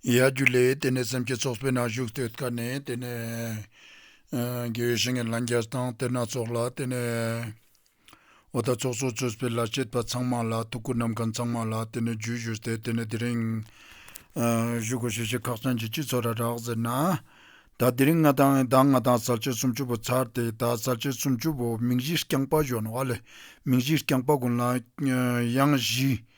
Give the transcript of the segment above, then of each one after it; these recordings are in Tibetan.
ཡ་རྒྱུ་ལས་དེ་ནས་སེམས་ཀྱི་ཚོགས་སྤེལ་ན་བཞུགས་སྟོད་དཀར་ནས་དེ་ནས། དགེ་བའི་བཤེས་གཉེན་ལ་མཇལ་དང་གཏེར་སྣ་ཚོགས་ལ་དེ་ནས། བ་དག་ཚོགས་སོགས་ཚོད་སྤེལ་ལ་བྱེད་པ་ཚང་མ་ལ་ཐུགས་ཁུར་ནམ་གང་ཚང་མ་ལ་དེ་ནས་རྒྱུད་བཞུགས་ཏེ་དེ་ནས་དེ་རིང། བཞུགས་སྒོ་ཞེས་བྱའི་ཁག་ཚང་གི་སྤྱི་ཚོགས་ར་རག་ཟེར་ན། ད་དེ་རིང་ང་དང་ཟླ་ལྔ་དང་ཟར་ཆེ་སུམ་བཅུ་པོ་ཚར་ཏེ་ད་ཟར་ཆེ་སུམ་བཅུ་པོ་མིང་གཞི་རྐྱང་པ་གཞོན་བ་ལས་མིང་གཞི་རྐྱང་པ་དགུང་ལ་གཡང་གཞི།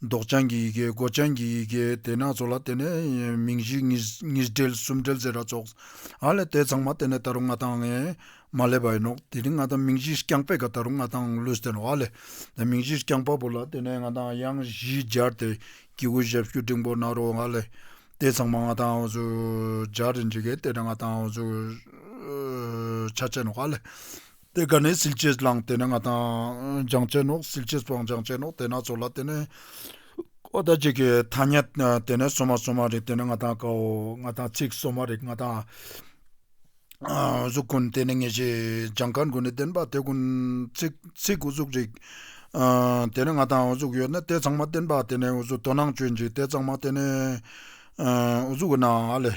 མདོག་ཅན་གྱི་ཡི་གེ་མགོ་ཅན་གྱི་ཡི་གེ་དེ་ནག་ཚོགས་ལ་དེ་ནས་མིང་བཞི་གཉིས་སྦྲེལ་གསུམ་སྦྲེལ་ཟེར་ར་ཚོགས་ཨ་ལས་དེ་ཚང་མ་དེ་ནས་ད་རུང་ང་དང་ངས་མ་སླེབས་པ་ཡིན་ནོ་དེ་ནི་ང་དང་མིང་བཞི་རྐྱང་པས་ཀ་ད་རུང་ང་དང་ལུས་བསྟན་ཨ་ལས་དེ་མིང་བཞི་རྐྱང་པ་པོ་ལ་དེ་ནས་ང་དང་དབྱངས་བཞི་སྦྱར་ཏེ་སྐྱེས་བུ་ཞབས་ཞུ་འབྲིང་པོ་ནག་རོ་ཨ་ལས་དེ་ཚང་མ་ང་དང་ཨུ་ཚུགས་སྦྱར་རེ་འབྲི་གལ་དེ་ནས་ང་དང་ཨུ་ཚུགས་ཆ་ཅན་ཨ་ལས། དེ་དགའ་ནས་ཟིལ་གྱིས་བླངས་དེ་ནས་ང་དང། སྦྱང་བྱའི་ནོག་ཟིལ་གྱིས་བཙོང་སྦྱང་བྱའི་ནོག་དེ་ནག་ཚོགས་ལ་དེ་ནས། ཨོ་ད་ཅིག་གི་ཐ་སྙད་དེ་ནས་སོ་མ་སོ་མ་རིག་དེ་ནས་ང་དང་ཀའོ། ང་དང་ཚིག་སོ་མ་རིག་ང་དང། གཟུགས་ཀུན་དེ་ནས་ངེས་ཤེས་སྦྱང་དཀར་མགོ་ནས་བདེན་པ་དེ་ཀུན། ཚིག་ཚིག་ཨུ་གཟུགས་རིག། དེ་ནས་ང་དང་ཨུ་གཟུགས་ཡོད་ན་དེ་ཚང་མ་བདེན་པ་དེ་ནས་ཨུ་གཟུགས་དོ་སྣང་སྤྱོད་འཇུག་དེ་ཚང་མ་དེ་ནས། ཨུ་གཟུགས་ཨུ་ན་ཨ་ལས།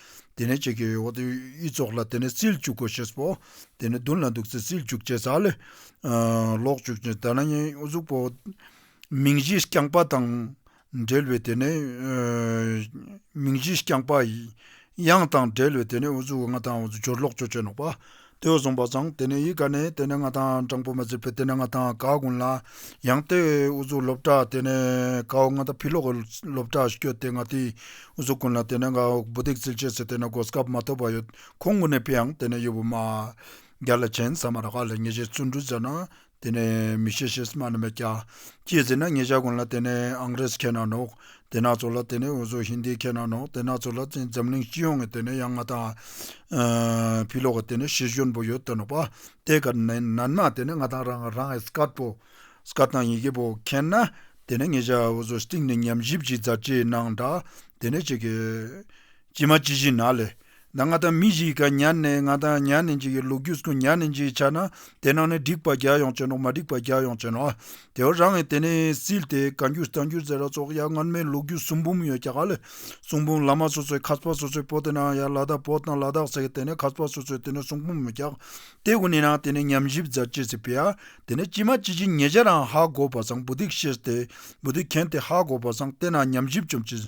དེ་ནས་ཁྱེད་ཀྱིས་འོ་དེ་ཡིས་ཙོག་ལ་དེ་ནས་བཙིར་བཅུག་གོ་ཞེས་པའོ། དེ་ནས་བདུན་ལ་འདུག་ཚེ་བཙིར་བཅུག་ཅེས་བྱ་ལས། ལོག་བཅུག་ཅེས་བྱ་ན་ནི་གཟུགས་པོ། མིང་བཞིས་བསྐྱངས་པ་དང། འབྲེལ་བའི་དེ་ནི། མིང་བཞིས་བསྐྱངས་པ། དབྱངས་དང་འབྲེལ་བའི་དེ་ནི་འོ་གཟུགས་ལྔ་དང་འོ་གཟུགས་སྦྱོར་ལོག་སྦྱོར་སྤྱོད་ནོག་པ། ལྟོས་གསུངས་པ་ཙང་དེ་ནས་ཡིད་དགའ་ནས་དེ་ནས་ང་དང་སྤྲང་པོ་མ་ཚུད་པས་དེ་ནས་ང་དང་གའུ་དགོན་ལ་ཡང་སྟེ་དབུ་གཟུགས་སློབ་གྲྭ་དེ་ནས་གའུ་ང་དང་ཕི་ལོ་གའུ་སློབ་གྲྭ་བསྐྱོད་དེ་ང་དེའི་དབུ་གཟུགས་དགོན་ལ་དེ་ནས་གའུ་བུ་ཏིག་ཚིལ་ཆེ་ཟེར་དེ་ནས་སྒོ་སྐབས་མ་ཐོབ་པ་ཡོད་ཁོང་ངུ་ནས་ཕི་ཡང་དེ་ནས་ཡུ་བུ་མ་རྒྱ་ལ་བྱན་ས་མ་ར་ཁ་ལ་ཉེ་བྱས་བརྩོན་འགྲུས་མཛད་ན་དེ་ནས་མི་ཤེས་ཤེས་སུ་མ་ནི་མེད་ཀྱང། ཅེས་ཟེར་ན་ངེད་ཅག་ཀུན་ལ་དེ་ནས་ཨང་རེས་ཁྱེད་རྣམས་ནོག་དེ་ནག་ཚོ་ལ་དེ་ནས་འུ་ཚོ་ཧིན་དི་ཁྱེད་རྣམས་ནོག་དེ་ནག་ཚོ་ལ་བརྩིས་འཛམ་གླིང་སྤྱི་ཡོངས་ཀྱི་དེ་ནས་ཡང་ང་དང། བྷི་ལོག་གི་དེ་ནས་ཤི་ཞོན་པོ་ཡོད་དོ་ནོག་པ་དེ་ག་ནི་ནན་མ་དེ་ནས་ང་དང་རང་རང་ཨེ་སྐར་པོ། Scott དང་ཡི་གེ་པོ་ཁྱེད་ན་དེ་ནས་ངེད་ཅག་འུ་ཚོ་སྟིང་ནས་ཉམས་ཞིབ་ཅིག་མཛད་ཅེས་གནང་འདྲ་དེ་ནས་ཅིག་གིས། ཇི་མ་ཇི་བཞིན་ན་ལས། ད་ང་དང་མི་བཞི་ཡི་ག་ཉར་ནས་ང་དང་ཉར་ནས་འཇིག་གི་ལུག་རྒྱུད་སྐུ་ཉར་ནས་འཇིག་བྱ་ན་དེ་ནང་ནས་འགྲིག་པ་རྒྱག་ཡོང་བྱོས་ནོ་མ་འགྲིག་པ་རྒྱག་ཡོང་བྱོས་ནོ། དེ་བ་རང་ངས་དེ་ནས་སིལ་ཏེ་ག་འགྱུར་ད་འགྱུར་ཟེར་ར་སོགས་ཡར་སྔར་མའི་ལུག་རྒྱུད་གསུང་འབུམ་ཡོད་རྒྱ་གར་ལས་གསུང་འབུམ་བླ་མ་སོ་སོའི་ཁ་ཕ་སོ་སོའི་པོ་དེ་ནང་ཡར་ལ་དྭགས་པོ་དང་ལ་དྭགས་ཟེར་གི་དེ་ནས་ཁ་ཕ་སོ་སོའི་དེ་ནས་གསུང་འབུམ་རྒྱག་དེ་གུ་ནས་ནང་དེ་ནས་ཉམས་ཞིབ་རྫ་ཅེས་ཟེར་པས་ཡར་དེ་ནས་ཅི་མ་ཅི་བཞིན་ཉེ་ཆར་རང་ཧ་གོ་བ་བཟང་བུ་སྡིག་བཤེས་ཏེ་བུ་སྡིག་མཁན་དེ་ཧ་གོ་བ་བཟང་དེ་ནང་ཉམས་ཞིབ་བྱོས་ཅི།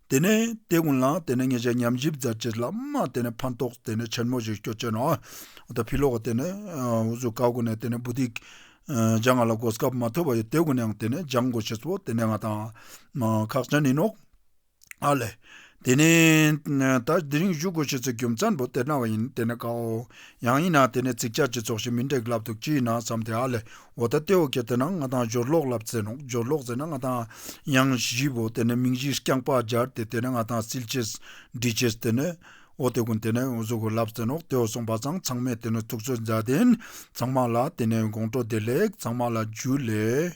དེ་ནས་དེ་ཀུན་ལ་དེ་ནས་ངེད་ཅག་མཉམ་བཞི་བརྫ་བྱེད་ལ་མ་དེ་ནས་ཕན་ཐོགས་དེ་ནས་ཆེན་མོ་ཞིག་སྐྱོ་ཅན་ཨ་ད་བྷི་ལོ་ཀ་དེ་ནས་འུ་ཟུ་ཀ་ཀུ་ནས་དེ་ནས་བུ་དེ་ཇག་ང་ལ་དགོས་སྐབས་མ་ཐོས་པ་ཡོད་དེ་ཀུ་ནའང་དེ་ནས་ཇག་མགོ་ཆེས་སོ་དེ་ནས་ང་དང་ཁག་ཅན་ནིན་ནོ། ཨ་ལས། དེ་ནས་ད་དེ་རིང་བཞུགས་དགོས་ཆེས་ཚེ་རྒྱུ་མཚན་པོ་དེ་གནང་བ་ཡིན་དེ་ནས་ཀའོ། ཡང་ཡིན་ན་དེ་ནས་ཚིག་ཅག་ཅི་ཚོགས་ཤིག་མི་འདྲེག་ལབ་འདུག་ཅི་ཡིན་ན་བསམ་སྟེ་ཨ་ལས་འོ་ད་ལྟེ་འོ་ཁྱེད་དེ་ན་ང་དང་སྦྱོར་ཀློག་ལབ་རྩེ་ནོག་སྦྱོར་ཀློག་རྩེ་ན་ང་དང་དབྱངས་བཞི་བོ་དེ་ནས་མིང་བཞི་རྐྱང་པགས་སྦྱར་དེ་དེ་ན་ང་དང་སིལ་བྱེད་སྦྲིད་བྱེད་དེ་ནས་འོ་དེ་ཀུན་དེ་ནས་འོ་གཟུགས་ལབ་རྩེ་ནོག་དེ་འོ་སོང་པ་ཚང་ཚང་མས་དེ་ནས་ཐུགས་ཚོད་མཛའ་དེ་ཚང་མ་ལ་དེ་ནས་དགོང་དྲོ་བདེ་ལེགས་ཚང་མ་ལ་རྒྱུ་ལེགས།